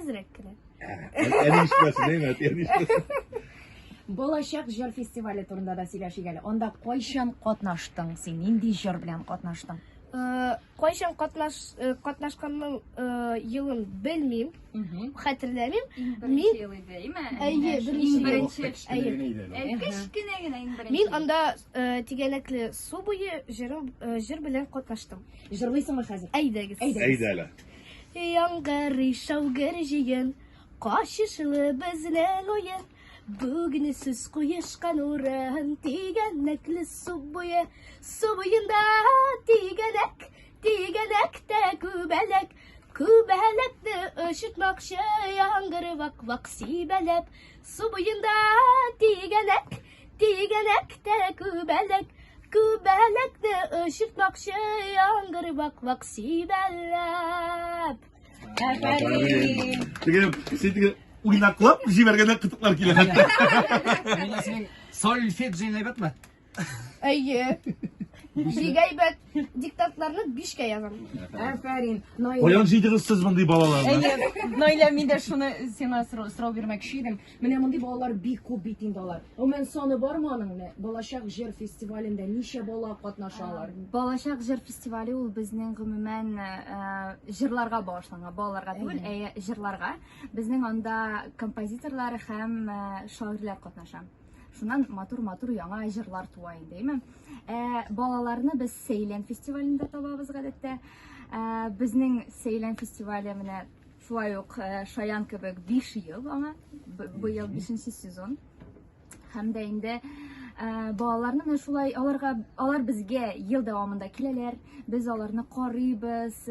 Әзрәк кенә. Әнишмәсен, әймәт, әнишмәсен. Балачак җыр фестивале турында да сөйләшик әле. Анда кайчан катнаштың син? Нинди җыр белән катнаштың? Э, кайчан катнаш э, катнашканның э, елын белмим, хәтерләмим. Мин ел иде, әйме? Әйе, беренче ел. Кечкенә генә иң беренче. Мин анда тигәнәкле су буе җыр белән катнаштым. Җырлыйсыңмы хәзер? Әйдәгез. Әйдә әле. Яңгырый шаугыр җыен, Качышлы безнең уен. Бүгін сүз куешкан урын, Тигәнәкле су буе. Су буенда тигәнәк, Тигәнәктә күбәләк. Күбәләкне очытмакчы, Яңгыр вак-вак сибәләп. Су буенда тигәнәк, Тигәләк тә күбәләк, күбәләкне очыртмакчы яңгыр вак-вак сибәләп. Афәрин! Теге, син теге уйнаклап җибәргәндә кытыклар килә хәтта. Мин исемең Сольфеджи әйбәтме? Әйе. Бик әйбәт. Диктантларны бишкә язам. Афәрин. Наилә. Каян җыйдыгыз сез мондый балаларны? Әйе, Наилә, мин дә шуны сиңа сорау, сорау бирмәкче идем. Менә мондый балалар бик күп бит инде алар. Гомумән саны бармы аның? Менә Балачак җыр фестивалендә ничә бала катнаша алар? Балачак җыр фестивале ул безнең гомумән э, җырларга багышланган, балаларга түгел, ә җырларга. Безнең анда композиторлар һәм э, шагыйрьләр катнаша. Шуннан матур-матур яңа җырлар туа инде, әйме? Ә балаларны без Сейлен фестивалендә табабыз гадәттә. Ә, безнең Сейлен фестивале менә Шулай ук Шаян кебек биш ел аңа, быел бишенче сезон. Һәм дә инде балаларны менә шулай аларга алар безгә ел дәвамында киләләр. Без аларны карыйбыз,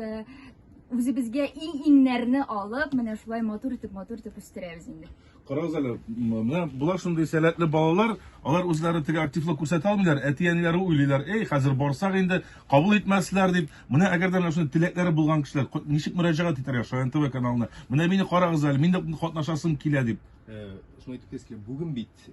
үзебезгә иң-иңнәрне алып, менә шулай матур итеп, матур итеп үстерәбез инде. Карагыз әле, менә болар шундый сәләтле балалар, алар үзләре теге активлык күрсәтә алмыйлар, әти-әниләре уйлыйлар, эй, хәзер барсак инде, кабул итмәсләр дип. Менә әгәр дә менә шундый теләкләре булган кешеләр, ничек мөрәҗәгать итәргә Шаян ТВ каналына? Менә мине карагыз әле, мин дә катнашасым килә дип. Э, шуны әйтеп китәсе килә, бүген бит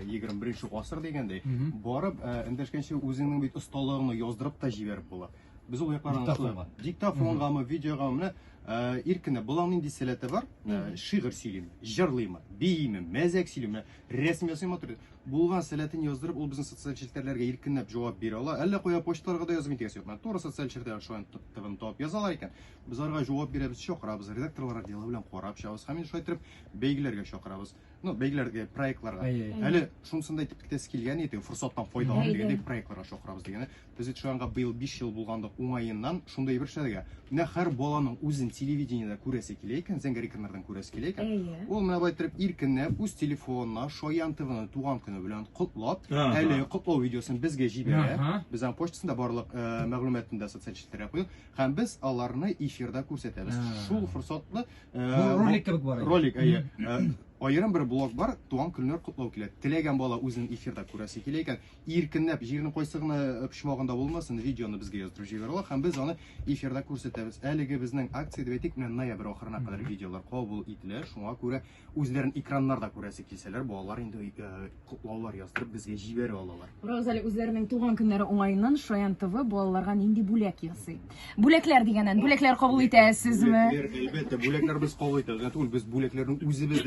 21 э, гасыр дигәндәй, барып э, эндәшкәнче үзеңнең бит осталыгыңны яздырып та җибәреп була. Без ул якларны аңлашмыйбыз. Диктофонгамы, видеогамы, менә э, иркенә болаң нинди сәләте бар? Э, шигырь сөйлим, җырлыймы, бииме, мәзәк сөйлиме, рәсем ясыймы туры. Булган сәләтен яздырып, ул безнең социаль челтәрләргә иркенләп җавап бирә ала. Әллә кая почталарга да язып интегәсе юк. Менә туры социаль челтәр шулай тып-тыбын тап язалар икән. Без аларга җавап бирәбез, чакырабыз, редакторлар отделы белән карап чыгабыз һәм инде шулай итеп бәйгеләргә чакырабыз. ну, бәйгеләргә, проектларга. Әле шунысын да әйтеп китәсе килгән иде, форсаттан файдалан дигәндә проектларга чакырабыз дигәне. Без бит шуңа быел 5 ел булгандык уңаеннан шундый бер шәдәгә. Менә һәр баланың үзен телевидениедә күрәсе килә икән, Зәңгәр экраннардан күрәсе килә икән. Ул менә бай торып иркенләп үз телефонына Шаян ТВны туган көне белән котлап, әле котлау видеосын безгә җибәрә. Без аның почтасында барлык мәгълүматында социаль челтәргә куйдык. Һәм без аларны эфирда күрсәтәбез. Ә. Шул форсатлы э, Бу бу- ролик кебек бар. иде. ролик әйе. Э, Аерым бер блог бар, туган көннәр котлау килә. Теләгән бала үзенең эфирда күрәсе килә икән, иркенләп җирнең кайсы гына э, почмагында булмасын, видеоны безгә яздырып җибәрә ала һәм без аны эфирда күрсәтәбез. Әлеге безнең акция дип әйтик, менә ноябрь ахырына кадәр Мгм. видеолар кабул ителә, шуңа күрә Үзләрен экраннарда күрәсе килсәләр, балалар инде котлаулар яздырып безгә җибәрә алалар. Күрәбез әле үзләренең туган көннәре уңаеннан Шаян ТВ балаларга нинди бүләк ясый. Бүләкләр дигәннән, бүләкләр кабул итәсезме? Бүләкләр, әлбәттә, бүләкләр без кабул итәбез. Генә түгел, без бүләкләрне үзебез дә